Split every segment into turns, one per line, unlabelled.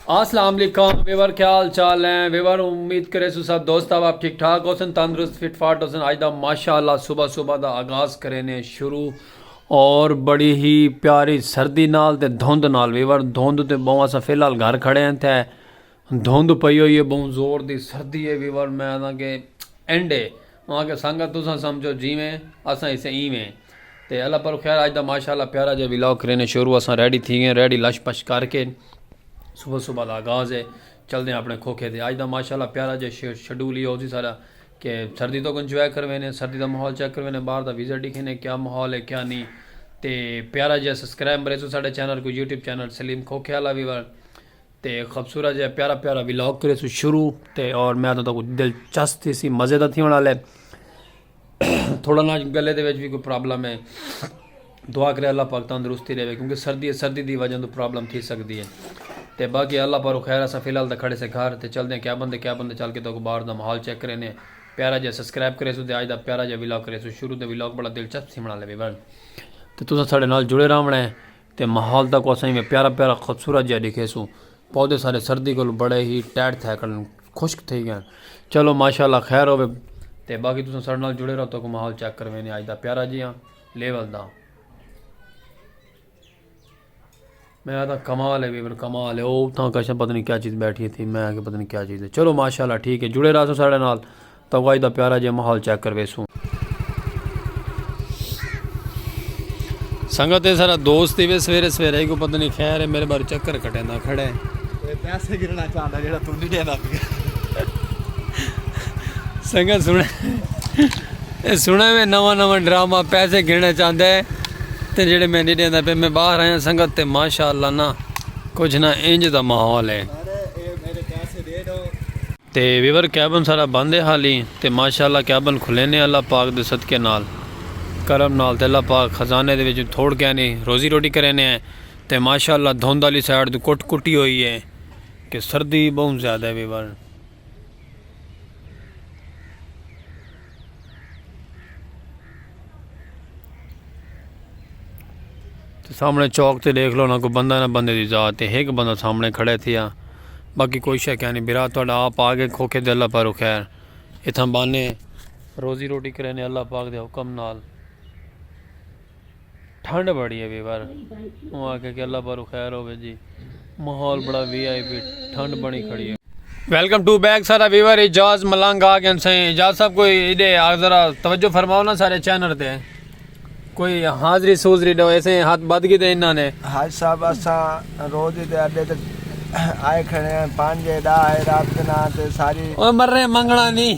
اسلام علیکم ویور کیا حال چال ہیں ویور امید کرے سو سب دوست اب آپ ٹھیک ٹھاک ہوسن تندرست فٹ فاٹ ہوسن آج دا ماشاءاللہ صبح صبح دا آغاز کرینے شروع اور بڑی ہی پیاری سردی نال تے دھوند نال ویور دھوند تے بہوں اسا فی الحال گھر کھڑے ہیں تھے دھوند پئی ہوئی ہے بہوں زور دی سردی ہے ویور میں آدھا کہ اینڈ ہے اوں آکھیا سانگت تساں سمجھو جیویں اساں ایسے ایویں تے اللہ پر خیر اج دا ماشاءاللہ پیارا جیہا ولاگ کرینے شروع اساں ریڈی تھی گئے ریڈی لش پش کر کے صبح صبح دا آغاز ہے چلدے ہیں اپنے کھوکھے تے اج دا ماشاءاللہ پیارا جیہا شیڈول ہی ہو سی سارا کہ سردی تو انجوائے کروینے سردی دا ماحول چیک کروینے باہر دا ویزر ڈیکھینے کیا ماحول ہے کیا نہیں تے پیارا جیہا سبسکرائب مریسو ساڈے چینل کو یوٹیوب چینل سلیم کھوکھے والا وی تے خبصورت جیہا پیارا پیارا ولاگ کریسو شروع تے اور میں تو تکو دلچسپ تھی سی مزے دا تھی ہونا لے تھوڑا نا گلے دے ویچ بھی کوئی پرابلم ہے دعا کرے اللہ پاک تندرستی رہے کیونکہ سردی ہے سردی دی وجہ تو پرابلم تھی سکتی ہے تے باقی اللہ پارو خیر اسا فی الحال تے کھڑے سے گھر تے چل دیں کیا بندے کیا بندے چل کے تو باہر دا ماحول چیک کرے نے پیارا جے سبسکرائب کرے سو تے اج دا پیارا جے ولاگ کرے سو شروع تے ولاگ بڑا دلچسپ تھی بنا لے ویورن تے تساں ساڈے نال جڑے رہونا ہے تے ماحول تاکوں اساں ایویں پیارا پیارا خوبصورت جیہا ڈکھیسوں پودے سارے سردی کولو بڑے ہی ٹائٹ تھے کن خشک تھئی گن چلو ماشاء اللہ خیر ہوے تے باقی تساں ساڈے نال جڑے رہو تاکوں ماحول چیک کروینے اج دا پیارا جیہا لیول دا میں آتا کمال ہے ویور کمال ہے او اتھاں کشن پتہ نہیں کیا چیز بیٹھی تھی میں کہ پتہ نہیں کیا چیز ہے چلو ماشاء اللہ ٹھیک ہے جڑے رہو ساڈے نال تاں واج دا پیارا جیہا ماحول چیک کرویسوں۔ سنگت اے ساڈا دوست ای وے سویرے سویرے کوں پتہ نی خیر اے میرے باروں چکر کٹیندا کھڑا اے۔ اے پیسے
گھننا چاہندا جیہڑا توں نی ڈیندا پیا۔
سنگت سنڑے اے سنڑے وے نواں نواں ڈرامہ پیسے گھننا چاہندا اے تے جیہڑے میں نی ڈیندا پیا میں باہر آیاں سنگت تے ماشاءاللہ نا کچھ نا انج دا ماحول اے۔ تے ویور کیبن ساڈا بند ہے حالی تے ماشاءاللہ کیبن کھلینے اللہ پاک دے صدقے نال کرم نال تے اللہ پاک خزانے دے وچوں تھوڑ کینی روزی روٹی کرینے ہیں تے ماشاءاللہ دھند آلی سائیڈ توں کٹ کٹی ہوئی ہے کہ سردی بہوں زیادہ ہے ویور۔ سامنے چوک تے دیکھ لو نہ کوئی بندہ نہ بندے دی ذات تے ایک بندہ سامنے کھڑے تھیا باقی کوئی شے کہنی برا تہاڈا آپ آگے کھوکھے دے اللہ پارو خیر اتھاں بانے روزی روٹی کرینے اللہ پاک دے حکم نال ٹھنڈ بڑی ہے ویور اوں آکھیا کہ اللہ پارو خیر ہوے جی ماحول بڑا وی آئی پی ٹھنڈ بنی کھڑی ہے ویلکم ٹو بیک سارا ویور اجاز ملنگ آ گئے سائیں اجاز صاحب کوئی ایڈے ذرا توجہ فرماؤ نا سارے چینل تے کوئی حاضری سوزری دو ایسے ہاتھ بد گی دے انہاں نے حاج صاحب اسا
روز ہی دے اڈے تے آئے کھڑے ہیں پانچ جے دا آئے رات کے نہ آتے ساری اوہ مر رہے منگنا
نہیں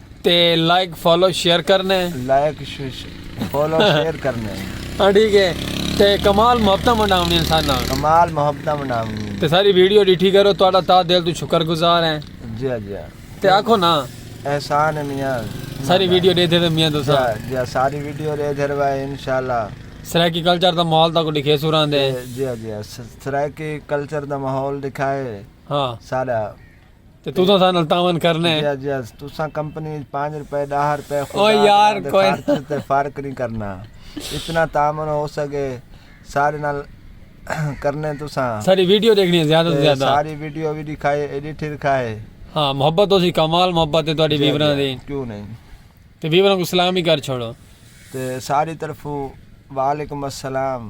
تے لائک
فالو شیئر کرنے لائک
فالو شیئر کرنے ہاں ٹھیک ہے
تے کمال محبتہ منڈاونی انسان نال کمال محبتہ
منڈاونی تے ساری ویڈیو ڈیٹھی
کرو تہاڈا تا دل تو شکر گزار ہیں جی جی
تے آکھو نا
احسان ہے
میاں ساری ویڈیو دے دے
میاں دوسا جی ساری ویڈیو
دے دے رہا ہے انشاءاللہ سرائیکی کلچر
دا ماحول دا کو دکھے سوران دے جی جی
سرائیکی کلچر دا ماحول دکھائے ہاں سارا تے تو
تساں نال تعاون کرنا ہے جی جی تساں
کمپنی وچ 5 روپے 10 روپے او یار کوئی
تے فرق نہیں
کرنا اتنا تعاون ہو سکے سارے نال کرنے تساں ساری ویڈیو دیکھنی ہے زیادہ سے
زیادہ ساری ویڈیو بھی دکھائے
ایڈیٹ دکھائے ہاں محبت ہو
سی کمال محبت ہے تہاڈی ویوراں دی کیوں نہیں
تے ویوراں کو
سلام ہی کر چھوڑو تے ساری
طرفوں وعلیکم السلام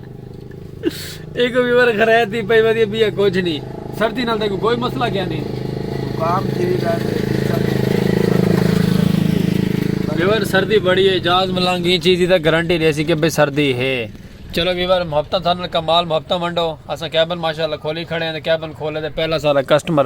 ایک ویور خرید دی پئی ودی بیا کچھ نہیں سردی نال تک کوئی مسئلہ کیا نہیں کام کی
رہے
ویور سردی بڑی ہے جاز ملنگ یہ چیز دا گارنٹی دے سی کہ بے سردی ہے چلو ویور محبتہ تھا نال کمال محبتہ منڈو اسا کیبن ماشاءاللہ کھولی کھڑے ہیں کیبن کھولے دے پہلا سارا کسٹمر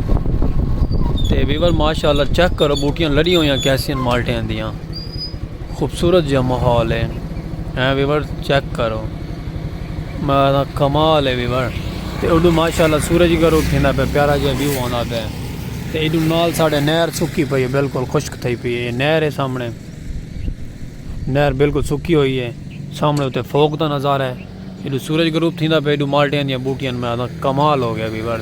تے ویور ماشاء اللہ چیک کرو بوٹیاں لڑی ہویاں کیسیاں مالٹیاں دیاں خوبصورت جہاں ماحول ہے ہیں ویور چیک کرو میں کمال ہے ویور تے اڈو ماشاء اللہ سورج گرو کھیندا پہ پیارا جہاں ویو آندا پہ تے ایڈو نال ساڑھے نہر سکی پئی ہے بالکل خشک تھئی پئی ہے نہر ہے سامنے نہر بالکل سکی ہوئی ہے سامنے تے فوک دا نظارہ ہے ایڈو سورج غروب تھیندا پے ایڈو مالٹیاں دیاں بوٹیاں میں آدھا کمال ہو گیا بھی بڑ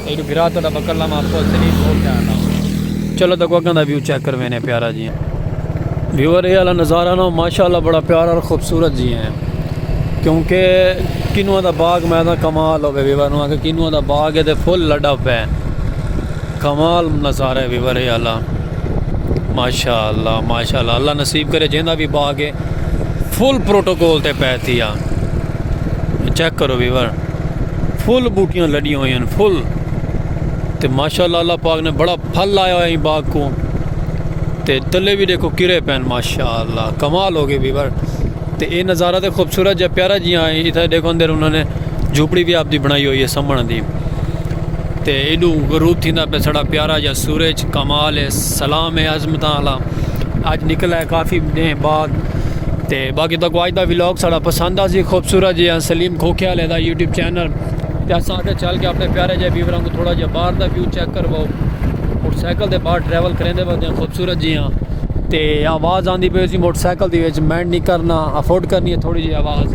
ایڈو بھرا تہاڈا بکر لاما افسوس سے نہیں بھول جانا نا چلو تکو اگاں دا ویو چیک کر وینے پیارا جی ویور اے والا نظارہ نا ماشاءاللہ بڑا پیارا اور خوبصورت جی ہیں کیونکہ کنواں دا باغ میں آدھا کمال ہو گیا ویور نو آگے کنواں دا باغ ہے تے فل لڈا پے کمال نظارہ ہے ویور اے والا ماشاءاللہ ماشاءاللہ اللہ نصیب کرے جیندا بھی باغ ہے فل پروٹوکول تے پہ تھی آ چیک کرو ویور فل بوٹیاں لڑیاں ہوئی ہیں فل تے ماشاءاللہ اللہ پاک نے بڑا پھل لایا ہوا ہے باغ کو تے تلے بھی دیکھو کرے پین ماشاءاللہ کمال ہو گئے ویور تے اے نظارہ تے خوبصورت جا پیارا جی آئے ہاں، اتھا دیکھو اندر انہوں نے جھوپڑی بھی آپ دی بنائی ہوئی ہے سمن دی تے ایڈو غروب تھی نہ پہ سڑا پیارا جا سورج کمال ہے سلام ہے عظمتاں والا اج نکلا ہے کافی دن بعد تے باقی تو اج دا ولاگ ساڑا پسند آ سی خوبصورت جی سلیم کھوکھے والے دا یوٹیوب چینل تے اساں آگے چل کے اپنے پیارے جے ویوراں کو تھوڑا جے باہر دا ویو چیک کرواؤ موٹر سائیکل دے باہر ٹریول کریں دے وقت خوبصورت جی ہاں تے آواز آندی پئی سی موٹر سائیکل دی وچ مینڈ نہیں کرنا افورڈ کرنی ہے تھوڑی جی آواز